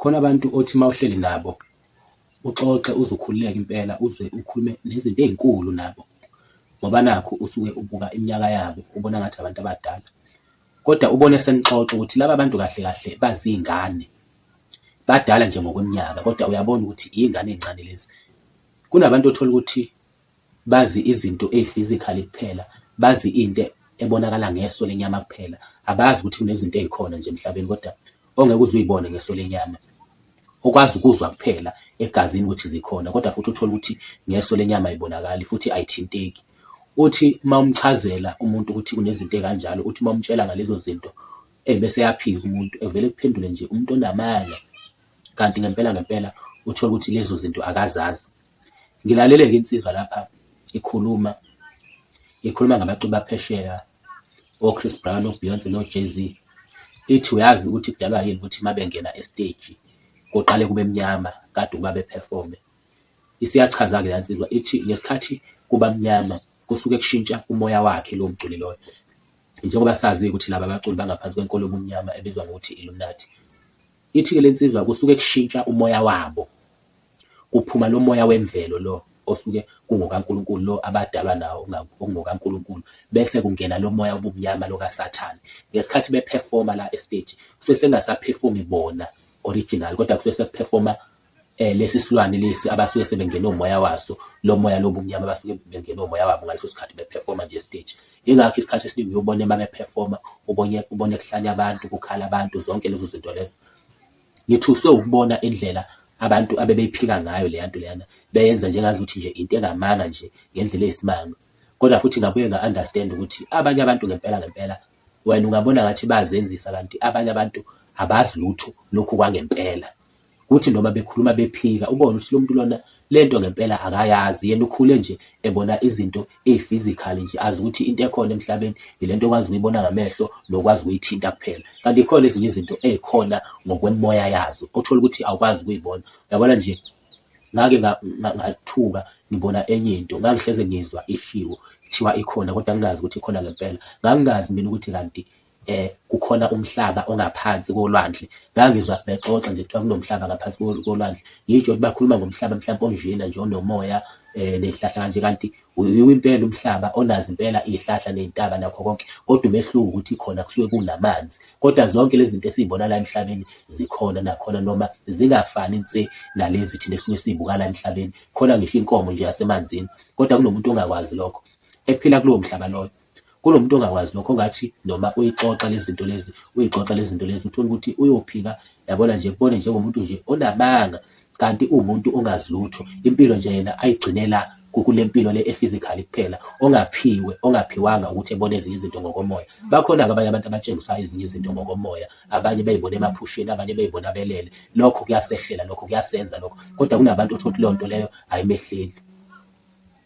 Khona abantu othi uma uhleli nabo uxoxe uzwe ukhululeke impela, uzwe ukhulume nezinto ey'nkulu nabo ngoba nakhu usuke ubuka iminyaka yabo, ubona ngathi abantu abadala kodwa ubone senixoxa ukuthi laba bantu kahle kahle baziy'ngane, badala nje ngokweminyaka kodwa uyabona ukuthi iy'ngane ey'ncane lezi. Kunabantu othola ukuthi Bazi izinto eyi-physically kuphela, bazi into ebonakala ngeso lenyama kuphela. Abazi ukuthi kunezinto ezikhona nje emhlabeni kodwa ongeke uze uyibone ngeso lenyama, okwazi ukuzwa kuphela egazini ukuthi zikhona kodwa futhi uthole ukuthi ngeso lenyama ayibonakali futhi ayithinteki. Uthi uma umchazela umuntu ukuthi kunezinto ezikanjalo, uthi uma umtshela ngalezo zinto ebese eyaphika umuntu, evele ekuphendule nje umuntu onamanga kanti ngempela ngempela uthole ukuthi lezo zinto akazazi. Ngilalele-ke insizwa lapha ikhuluma, ikhuluma ngabaculi baphesheya o-Chris Brown, o-Beyonce no-Jay-Z. Ithi uyazi ukuthi kudalwa yini ukuthi uma bengena esteji kuqale kube mnyama kade ukuba bephefome. Isiyachaza-ke la nsizwa ithi ngesikhathi kuba mnyama kusuke kushintsha umoya wakhe lowo mculi loyo. Njengoba sazi ukuthi laba baculi bangaphansi kwenkolo yobumnyama ebizwa ngokuthi Illuminati. Ithi-ke le nsizwa kusuke kushintsha umoya wabo. Kuphuma lomoya wemvelo lo osuke kungokaNkulunkulu lo abadalwa nawo okungokaNkulunkulu bese kungena lomoya wobumnyama lo kaSathane. Ngesikhathi be performer la e stage kusuke sekungasa performi bona original kodwa kusuke seku performa eh, lesi silwane lesi abasuke sebengene umoya waso lo moya lobumnyama abasuke bengene umoya wabo ngaleso sikhathi beperforma nje stage ingakho isikhathi esiningi uyobona uma beperforma ubone ubone kuhlanya abantu kukhala abantu zonke lezo zinto lezo Ngithuswe wukubona indlela abantu abebeyiphika ngayo leya nto leyana, beyenza njengazuthi nje into engamanga nje ngendlela eyisimanga. Kodwa futhi ngabuye nga-understand ukuthi abanye abantu ngempela ngempela wena ungabona ngathi bayazenzisa kanti abanye abantu abazi lutho lokhu kwangempela. Kuthi noma bekhuluma bephika ubone ukuthi lo muntu lona Lento ngempela akayazi yena ukhule nje ebona izinto eziphysically nje azi ukuthi into ekhona emhlabeni ilento okwazi ukuyibona ngamehlo nokwazi ukuyithinta kuphela kanti ikhona ezinye izinto ezikhona ngokwemoya yazo othola ukuthi awukwazi ukuyibona yabona nje ngake ngathuka ngibona enye into ngangihleze ngizwa ishiwo kuthiwa ikhona kodwa ngingazi ukuthi ikhona ngempela ngangingazi mina ukuthi kanti um kukhona umhlaba ongaphansi kolwandle ngangizwa bexoxa nje kuthiwa kunomhlaba ngaphansi kolwandle ngisho ukuthi bakhuluma ngomhlaba mhlawumbe onjena nje onomoya um ney'hlahla kanje kanti uyiwo impela umhlaba onazi impela iy'hlahla ney'ntaba nakho konke kodwa umehluko ukuthi khona kusuke kunamanzi kodwa zonke lezi zinto esiy'bona la emhlabeni zikhona nakhona noma zingafani nse nalezi thina esuke siy'buka la emhlabeni khona ngisho inkomo nje yasemanzini kodwa kunomuntu ongakwazi lokho ephila kulowo mhlaba loyo Kunomuntu ongakwazi lokho ngathi noma uyixoxa lezinto lezi uyixoxa lezinto lezi uthola ukuthi uyophika yabona nje kubone njengomuntu nje onamanga kanti uwumuntu ongazi lutho impilo nje yena ayigcinela kukule mpilo le ephysically kuphela ongaphiwe ongaphiwanga ukuthi ebone ezinye izinto ngokomoya bakhona-ke abanye abantu abatshengisayo ezinye izinto ngokomoya abanye beyibona emaphusheni abanye beyibona belele lokho kuyasehlela lokho kuyasenza lokho kodwa kunabantu othola ukuthi leyo nto leyo ayimehleli